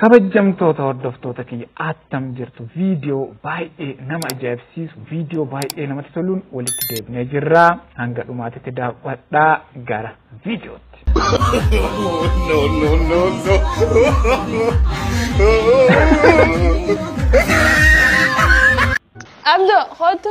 Kabajjamtoota hordoftoota kiyya attam jirtu viidiyoo baay'ee nama ajaa'ibsiisu viidiyoo baay'ee namatti toluun walitti deebinee jirra hanga dhumaatitti daawwadhaa gara viidiyootti. no, no, no, no. Abdo, kootu.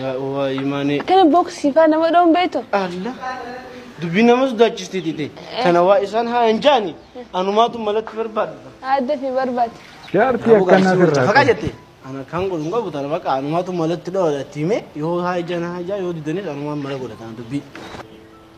Yaa waa imaanee. Kana boksii faa nama dhoon beektu. Alla. Dubbii nama sodaachisti tite. Kana waa isaan haa hin jaani. Anumaatu malatti barbaadudha. Adda fi barbaadde. Jaartii Kanaafuu akkanaa gaarsii wajjin sirraa faqa qabu. jette. Ana kan godhu hin qabu tana baqa anumaatu malatti dhoodha itti hime yoo haa ijaan haa ijaa yoo didanis anumaan mala godha tana dubbii.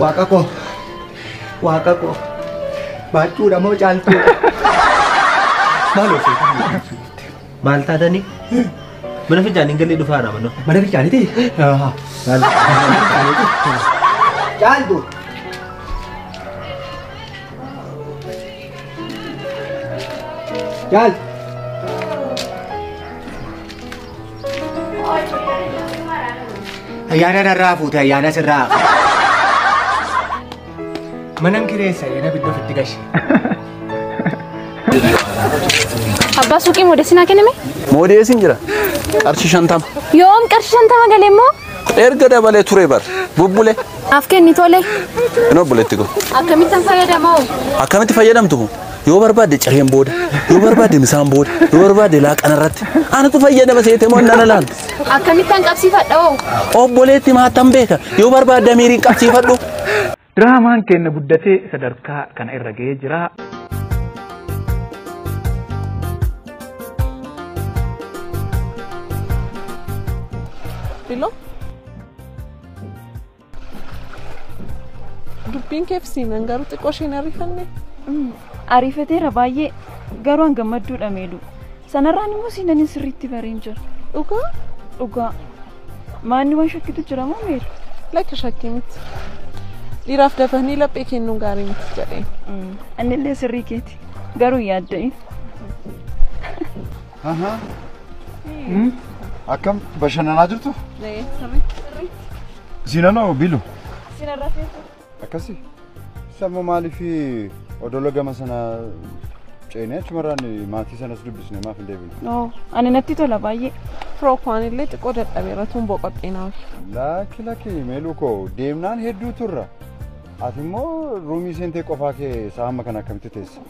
Waaqa koo waaqa koo baachuudha moo caaltuudha maal ofii maal taatanii mana fincaanii galee dhufaa nama noo mana fincaaniiti caaltu Gel. Ayyaana narraa fuute ayyaana sirraa. Manan kireessa yana biddoo fitti gashe. Abbaa suuqii moodeessinaa kenname? Moodeesiin jira. Qarshii shantama. Yoom qarshii shantama galee immoo? Erga dabalee ture bar. Bubbule. Naaf kenni tole. Hin obboleetti kun. Akkamittan fayyadamoo? Akkamitti fayyadamtu kun? Yoo barbaadde cireen booda, yoo barbaadde misaan booda, yoo barbaadde laaqana irratti. Anatu fayyadama seete moo nana laan. Akkamittan qabsiifadha hoo? Obboleetti maattan beeka. Yoo barbaadde miiriin qabsiifadhu. Diraamaan keenna guddatee sadarkaa kana irra ga'ee jira. Bilo. Dubbiin keef siinan garuu xiqqoo isheen ariifanne. Ariifateera baay'ee garuu an gammadduudha meeluu. Sanarraan immoo seenaniin sirriitti bareen jira. Dhugaa? Dhugaa. Maanni waan shakkitu jira moo meera? Lakki shakkii miti. Dhiiraaf dafanii laphee kennuun gaarii miti jedheen. Annillee sirrii keeti. Garuu yaadda'in. Ahaa. Hmm? Akkam bashannanaa jirtu? Sirrii. Siinanoo bilu. Sinarra feetu. Akkasi? Sammoo maaliif odola gama sana ceenee achumarraan maatii sanas dubbisne maaf hin deebine? Oo, ani natti tola baay'ee. Firookwaan illee xiqqoo dadhabeera tun boqottee naaf. Lakki lakki meeluu koo deemnaan hedduu turra. Ati immoo ruumii seentee qofaa kee isaa hamma kana akkamitti teesse?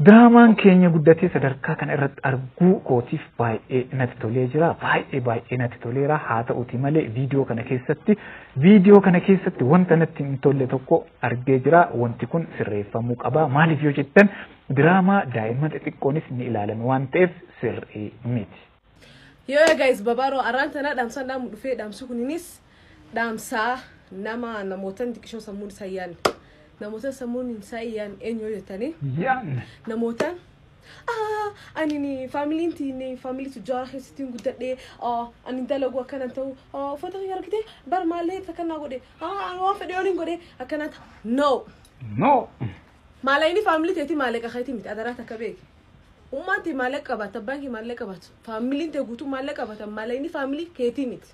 Diraamaan keenya guddatee sadarkaa kana irratti arguu kootiif baay'ee natti tolee jira. Baay'ee baay'ee natti toleera. Haa ta'uti malee viidiyoo kana keessatti viidiyoo kana keessatti wanta natti hin tolle tokko argee jira. Wanti kun sirreeffamuu qaba. Maaliif yoo jettan diraamaa daa'imman xixiqqoonis ni ilaalan waan ta'eef sirrii miti. Yoo yaa guys babaaroo arraan tanaa dhaamsaan dhaamu dhufee dhaamsi kuninis dhaamsaa nama namootan xiqqishoo sammuun isaa yaan namootan sammuun isaa yaan eenyu yoo jettanii Yan. namootan ah ani ni faamiliin tiinni faamilii tujjaara keessatti hin guddadhe ah ani dalagu akkanan ta'u ah uffata kiyya argite bar maallee ibsa kannaa godhe ah ani waan fedhe oliin godhe akkanaa ta'a no No. maala inni faamilii teeti maaleqa keeti miti adaraa takka beeki Ummaan tee maallaqa qabaatte abbaan kee maallaqa qabaatu faamiliin tee guutuu maallaqa qabaatan maallaqni faamilii keetii miti.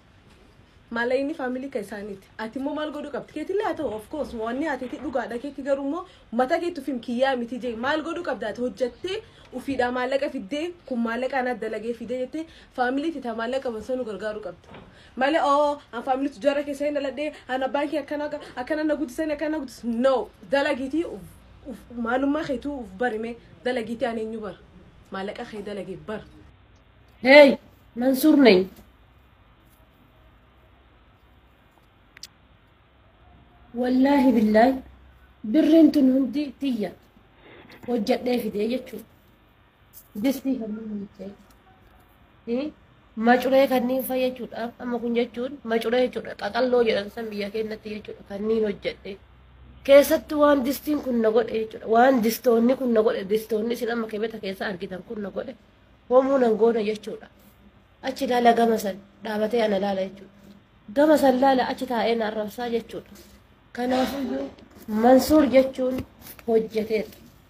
Maallaqni faamilii kan isaaniiti. Ati immoo maal godhuu qabdi? Keetillee haa ta'u of course wanni ati itti dhugaadha keetti garuu immoo mataa keetti ufim kiyyaa miti jee maal godhuu qabda ati hojjattee ufiidhaa maallaqa fiddee kun maallaqa anaa dalagee fidee jettee faamilii tee taa maallaqa qaban sanuu gargaaruu qabda. Malee oo an faamilii tujaara keessa hin dhaladhee an abbaan kee akkana akkana na guddisanii akkana na guddis no dalagiitii uf maalummaa keetuu uf barime dalagiitii ani eenyu bar maallaqa kee dalage bar Hey, Mansuur Nay. Wallaahi billaahi birriin tun hundi tiyya hojjedhee fidee jechuudha. Distii halluu miiccee fi macuree kanneen fa'a jechuudha. Amma kun jechuun macuree jechuudha. Qaqalloo jedhan san biyya keenyatti jechuudha. Kanneen hojjedhe. Keessatti waan distiin kun na godhe jechuudha. Waan distoonni kun na godhe distoonni isin amma kibeta keessa argitan kun na godhe homuu nan goone jechuudha. Achi ilaala gama san dhaabatee ana ilaala jechuudha. Gama san ilaala achi taa'ee na arrabsaa jechuudha. Kanaafuu Mansuur jechuun hojjeteedha.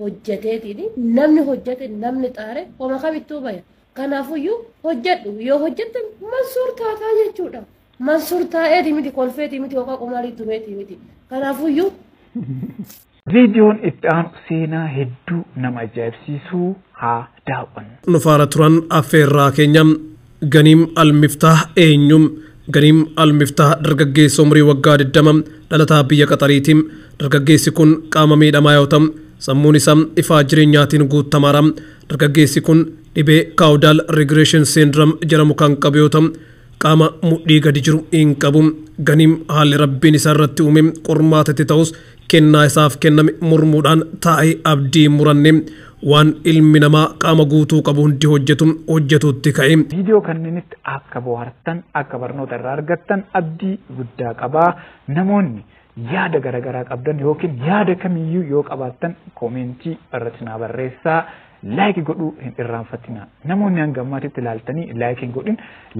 hojjeteetiini namni hojjete namni xaare homa kamittuu baya kanaafuyyuu hojjedhu yoo hojjette mansuur taataa jechuudha mansuur taa'eeti miti kolfeeti miti yookaan qumaarii tureeti miti kanaafuyyuu Viidiyoon itti aanu seenaa hedduu nama ajaa'ibsiisu haa daaw'anna. Nu faana turan affeerraa keenya. Ganiim Al-Miftaah eenyu? Ganiim Al-Miftaah dargaggeessa umrii waggaa 20 dhalataa biyya Qaxariiti. Dargaggeessi kun qaama miidhamaa yoo ta'u, sammuun isaa ifaa jireenyaatiin guuttamaadha. Dargaggeessi kun dhibee Caudal Regression Syndrome jedhamu kan qabu yoo ta'u, Qaama mudhii gadi jiru hin qabu. Ganiim haalli Rabbiin isa irratti uume qormaata itti ta'us kennaa isaaf kenname mormuudhaan taa'ee abdii hin muranne. Waan ilmi namaa qaama guutuu qabu hundi hojjetu hojjetuutti ka'e. Viidiyoo kanneenitti akka bohaartan, akka barnoota irraa argattan abdii guddaa qaba. Namoonni. Yaada garaagaraa qabdan yookiin yaada kamiyyuu yoo qabaattan koomeentii irratti naa barreessaa. Laayikii godhuu hin irraanfatinaa. Namoonni hanga ammaatitti ilaaltanii laayikii hin godhin.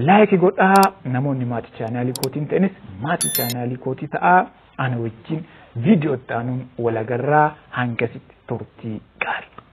Laayikii godhaa namoonni maatii chaanaalii kootii hin ta'inis maatii chaanaalii kootii ta'aa ana wajjin viidiyoo itti aanuun walagarraa hangasitti turtii gaarii.